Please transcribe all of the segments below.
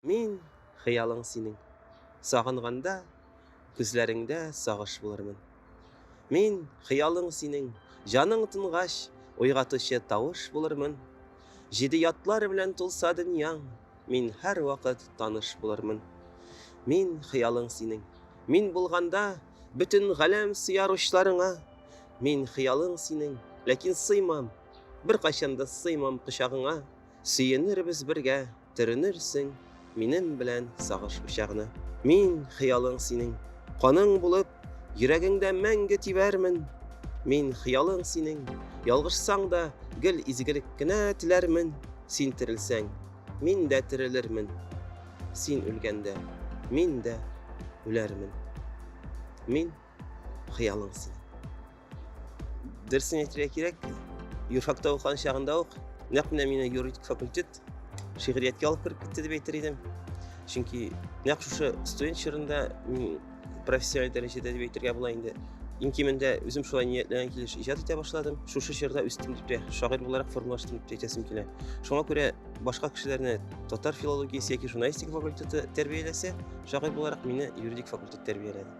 Мин, хыялың синең. Сагынганда, күзләреңдә сагыш булырмын. Мин, хыялың синең. Җаның тынгач, уйгатучы тавыш булырмын. Җиде ятлар белән тулса дөньяң, мин һәрвакыт таныш булырмын. Мин, хыялың синең. Мин булганда, бөтен галәм сыяр учларыңа. Мин, хыялың синең. Ләкин сыймам, беркайчан да сыймам кочагыңа. Сөенербез бергә, Төренерсең минем белән сагыш учагына. Мин, хыялың синең, каның булып, Йөрәгеңдә мәңге тибәрмен. Мин, хыялың синең, ялгышсаң да, Гел изгелек кенә теләрмен. Син терелсәң, мин дә терелермен, Син үлгәндә, мин дә үләрмен. Мин. хыялың синең дөресен әйтергә кирәк юрфакта укыган чагында ук нәкъ менә мине юридик факультет шигърияткә алып кереп китте дип әйтер идем чөнки нәкъ шушы студент чорында мин профессиональ дәрәҗәдә дип әйтергә була инде иң кимендә үзем шулай ниятләгән килеш иҗат итә башладым шушы чорда үстем дип тә шагыйрь буларак формалаштым дип әйтәсем килә шуңа күрә башка кешеләрне татар филологиясе яки журналистика факультеты тәрбияләсә шагыйрь буларак мине юридик факультет тәрбияләде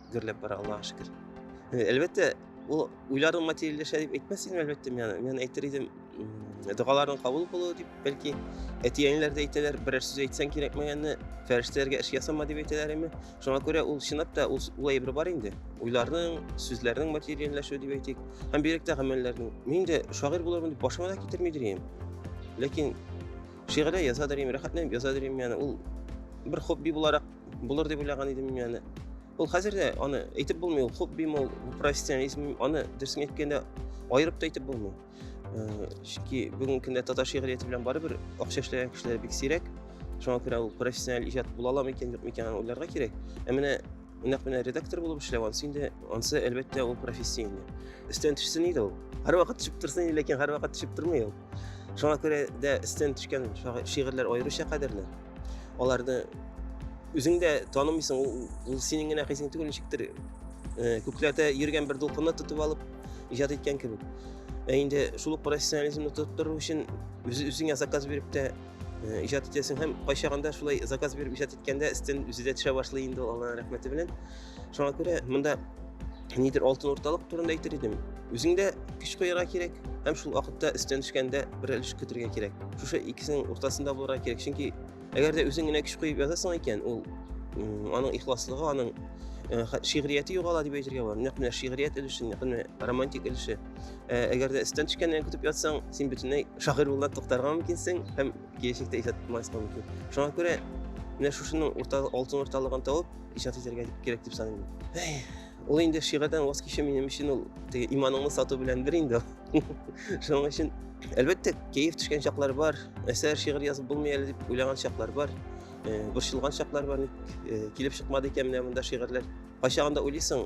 гөрләп бара аллага шөкер э, әлбәттә ул уйларың материальләшә дип әйтмәс идем әлбәттә мен мен әйтер идем догаларың кабул булуы дип бәлки әти әниләр дә әйтәләр берәр сүз әйтсәң кирәкмәгәнне фәрештәләргә эш ясама дип әйтәләр име шуңа күрә ул чынлап та ул, ул әйбер бар инде уйларның сүзләрнең материальләшүе дип әйтик һәм бигрәк тә гамәлләрнең мин дә шагыйрь булырмын дип башыма да китермидер идем ләкин шигырьләр язадыр идем рәхәтләнеп язадыр идем яны ул бер хобби буларак Булыр дип уйлаган идем мин аны. Ул хәзер дә аны әйтеп булмый, ул хобби мул, профессионализм, аны дөресен әйткәндә аерып та әйтеп булмый. Э, чөнки бүгенге көндә татар шигърияте белән барыбер акча эшләгән кешеләр бик сирәк. Шуңа күрә ул профессиональ иҗат була аламы икән, юкмы икән, уйларга кирәк. Ә менә нәкъ менә редактор булып эшләү ансы инде ансы әлбәттә ул профессия инде өстән төшсен иде ул һәрвакыт төшеп торсын иде ләкин һәрвакыт төшеп тормый ул Шуңа күрә дә өстен төшкән шигырьләр аеруча кадерле. Аларны үзең дә танымыйсың, ул, ул синең генә хисең түгел, ничектер э, күкләрдә йөргән бер дулкынны тотып алып иҗат иткән кебек. Ә инде шул ук профессионализмны тотып тору өчен үз, үзеңә заказ биреп тә э, иҗат итәсең һәм кайчагында шулай заказ биреп иҗат иткәндә өстен үзе дә төшә башлый инде ул Аллаһның рәхмәте белән. шуңа күрә монда нидер алтын урталык турында әйтер идем үзеңдә көч куярга кирәк һәм шул вакытта өстән төшкәндә бер өлеш көтергә кирәк шушы икесенең уртасында булырга кирәк чөнки әгәр дә үзең генә көч куеп язасың икән ул аның ихласлыгы аның э, шигърияте югала дип әйтергә була нәкъ менә шигърият өлеше нәкъ менә романтик өлеше э, әгәр дә өстән төшкәннән көтеп ятсаң син бөтенләй шагыйрь булудан туктарга мөмкинсең һәм киләчәктә иҗат булмаска мөмкин шуңа күрә менә шушының урта алтын урталыгын табып иҗат итәргә кирәк дип саныйм ул инде шигырьдән ваз кичү минем өчен ул теге иманыңны сату белән бер инде шуның өчен әлбәттә кәеф төшкән чаклар бар әсәр шигырь язып булмый әле дип уйлаган чаклар бар борчылган чаклар бар ник килеп чыкмады икән менә монда шигырьләр кайчагында уйлыйсың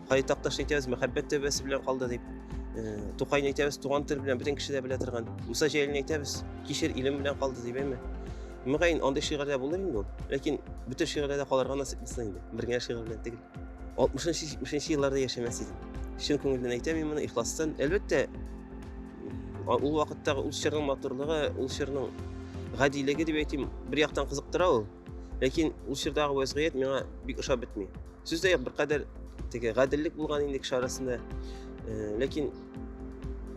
Кай такташ әйтәбез, мәхәббәт төбәсе белән калды дип. Э, Тукай әйтәбез, туган тел белән бөтен кеше дә белә торган. Муса Җәлилне әйтәбез, кишер илем белән калды дип әйме. Мөгаен, андый шигырьләр булыр инде ул. Ләкин бөтен шигырьләрдә калырга насыйп булсын инде. Бер генә шигырь белән түгел. 60-70 елларда яшәмәс идем. Чын күңелдән әйтәм мин моны ихластан. Әлбәттә, ул вакыттагы ул чорның матурлыгы, ул чорның гадилеге дип әйтим, бер яктан кызыктыра ул. Ләкин ул чордагы вәзгыять миңа бик ошап бетми. Сүз дә юк, беркадәр теге гаделлек булган инде кеше арасында. Э, ләкин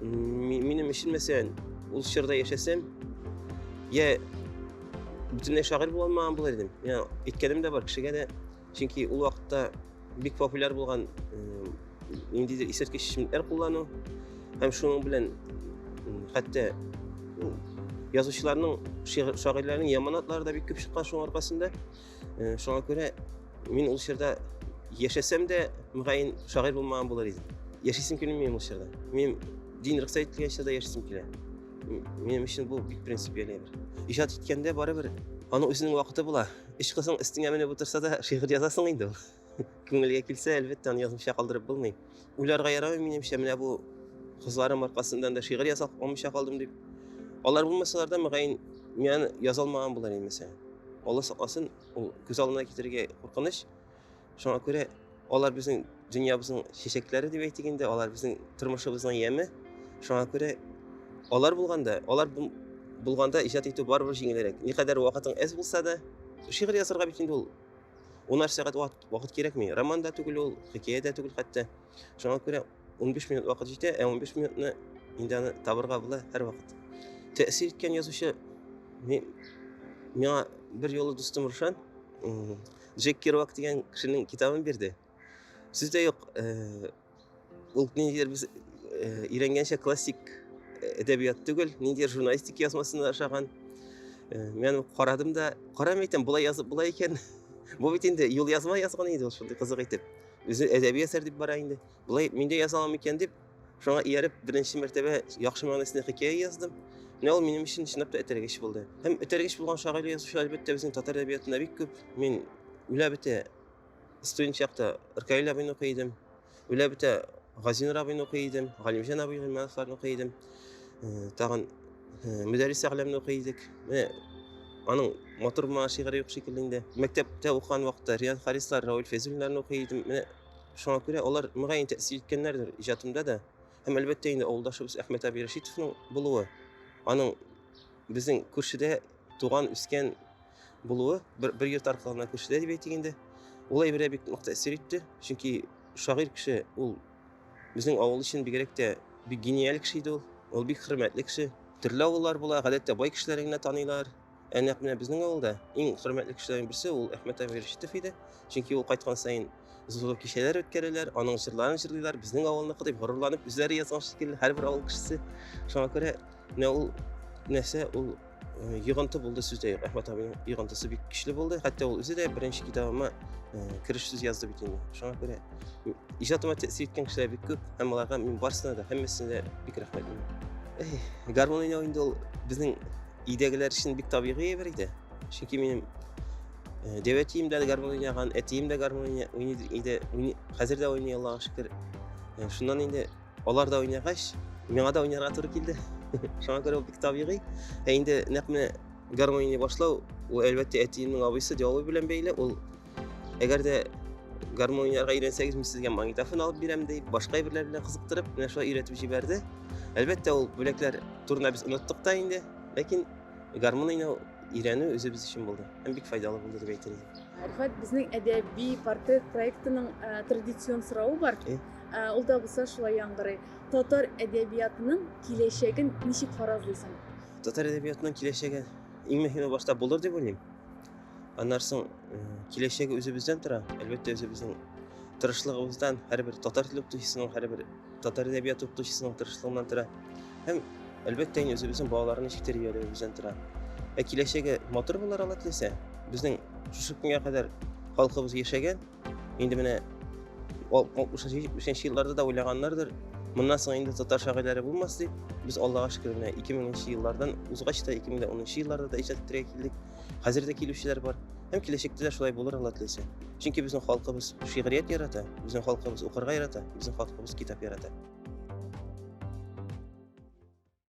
минем өчен мәсәлән, ул чорда яшәсәм, я бөтенләй шагыйрь була алмаган булыр идем. Я әйткәнем дә бар, кешегә дә чөнки ул вакытта бик популяр булган ниндидер исерткеч эчемлекләр куллану һәм шуның белән хәтта язучыларның шагыйрьләрнең яман атлары да бик күп чыккан шуның аркасында шуңа күрә мин ул чорда яшәсәм дә мөгаен шагыйрь булмаган булыр идем яшисем килми ул чорда мин дин рөхсәт ителгән чорда яшисем килә минем өчен бу бик принципиаль әйбер иҗат иткәндә барыбер аның үзенең вакыты була Өч кызың өстеңә менеп утырса да, шигырь язасың инде ул. Күңелгә килсә, әлбәттә, аны язмыйча калдырып булмый. Уйларга ярамый, минемчә, менә бу кызларым аркасыннан да шигырь яза алмыйча калдым дип. Алар булмасалар да, мөгаен, мин яза алмаган булыр инде, мәсәлән. Алла сакласын, ул күз алдына китерергә куркыныч. Шуңа күрә алар безнең дөньябызның чәчәкләре дип әйтик инде, алар безнең тормышыбызның яме. Шуңа күрә алар булганда, алар булганда иҗат итү барыбер җиңелрәк. Никадәр вакытың әз булса да, шигырь язарга бит инде ул унар сәгать вакыт кирәкми. Роман да түгел ул, хикәя дә түгел хәтта. Шуңа күрә 15 минут вакыт җитә, ә 15 минутны инде аны табырга була һәрвакыт. Тәэсир иткән язучы миңа бер юлы дустым Рушан Джек Керуак дигән кешенең китабын бирде. Сүз дә юк. Э, ул ниндидер без э, өйрәнгәнчә классик э, әдәбият түгел, ниндидер журналистик язмасында ашаган. Мен карадым да, карам әйтәм, болай язып була икән. Бу бит инде юл язма язган инде ул шундый кызык итеп. Үзе әдәби әсәр дип бара инде. Болай мин дә яза алам икән дип, шуңа ияреп, беренче мәртәбә яхшы мәгънәсендә хикәя яздым. Менә ул минем өчен чынлап та этәргеч булды. Һәм этәргеч булган шагыйрь язучылар, әлбәттә, безнең татар әдәбиятында бик күп. Мин үлә бетә студент чакта Ркаил абыйны укый идем. Үлә бетә Газинур абыйны укый идем, Галимҗан абый Гыйльмановларны укый идем. Э, тагын э, Мөдәррис Әгъләмне укый идек. Менә аның матур булмаган шигыре юк шикелле инде. Мәктәптә укыган вакытта Риан Харислар, Рауль Фәйзуллиннарны укый идем. Менә Шуңа күрә алар, мөгаен, тәэсир иткәннәрдер иҗатымда да. Һәм, әлбәттә инде, авылдашыбыз Әхмәт абый Рәшитовның булуы, аның безнең күршедә туган, үскән булуы, бер, бер йорт аркылы гына күршедә дип әйтик инде, ул әйбергә бик нык тәэсир итте. Чөнки шагыйрь кеше ул безнең авыл өчен бигрәк тә бик гениаль кеше иде ул. Ул бик хөрмәтле кеше. Төрле авыллар була, гадәттә бай кешеләрне генә таныйлар. Ә нәкъ менә безнең авылда иң хөрмәтле кешеләрнең берсе ул Әхмәт әбей Рәшитов иде. Чөнки ул кайткан саен зур кичәләр үткәрәләр, аның җырларын җырлыйлар, безнең авылныкы дип горурланып үзләре язган шикелле һәрбер авыл кешесе. Шуңа күрә менә ул нәрсә ул э, йогынты булды сүздә юк. Әхмәт әбинең йогынтысы бик көчле булды. Хәтта ул үзе дә беренче китабыма э, кереш сүз язды бит инде. Шуңа күрә иҗатыма тәэсир иткән кешеләр бик күп һәм аларга мин барысына да һәммәсенә дә бик рәхмәтлемен. Гармон уйнау инде ул безнең өйдәгеләр өчен бик табигый әйбер иде. Чөнки минем э, дәү әтием дә гармун уйнаган, әтием дә гармун уйный иде. Хәзер дә уйный, Аллага шөкер. Э, шуннан инде алар да уйнагач, миңа да уйнарга туры килде. Шуңа күрә бик табигый. Ә инде нәкъ менә гармон уйный башлау, ул әлбәттә әтиемнең абыйсы Диалуй белән бәйле. Ул Әгәр дә гармон уйнарга өйрәнсәгез, мин сезгә магнитофон алып бирәм дип, башка әйберләр белән кызыктырып, менә шулай өйрәтеп җибәрде. Әлбәттә, ул бүләкләр турында без оныттык та инде, ләкин гармон уйнау өйрәнү үзебез өчен булды. Һәм бик файдалы булды дип әйтер идем. Рифат, безнең әдәби портрет проектының э, традицион соравы бар. Э? Э, ул да булса шулай яңгырый. Татар әдәбиятының киләчәген ничек фаразлыйсың? Татар әдәбиятының киләчәге иң мөһиме башта булыр дип уйлыйм. Аннан соң киләчәге үзебездән тора. Әлбәттә, үзебезнең тырышлыгыбыздан, һәрбер татар теле укытучысының, һәрбер татар әдәбияты укытучысының тырышлыгыннан тора. Һәм әлбәттә, инде үзебезнең балаларны ничек тәрбияләвебездән тора. Ә киләчәге матур булыр ала теләсә, безнең шушы көнгә кадәр халкыбыз яшәгән, Инде менә 63 елларда да уйлаганнардыр, моннан соң инде татар шагыйрьләре булмас дип, без Аллага шөкер менә 2000 еллардан узгач та 2010 елларда да иҗат итәргә килдек. Хәзер дә килүчеләр бар. Һәм киләчәктә дә шулай булыр Алла теләсә. Чөнки безнең халкыбыз шигърият ярата, безнең халкыбыз укырга ярата, безнең халкыбыз китап ярата.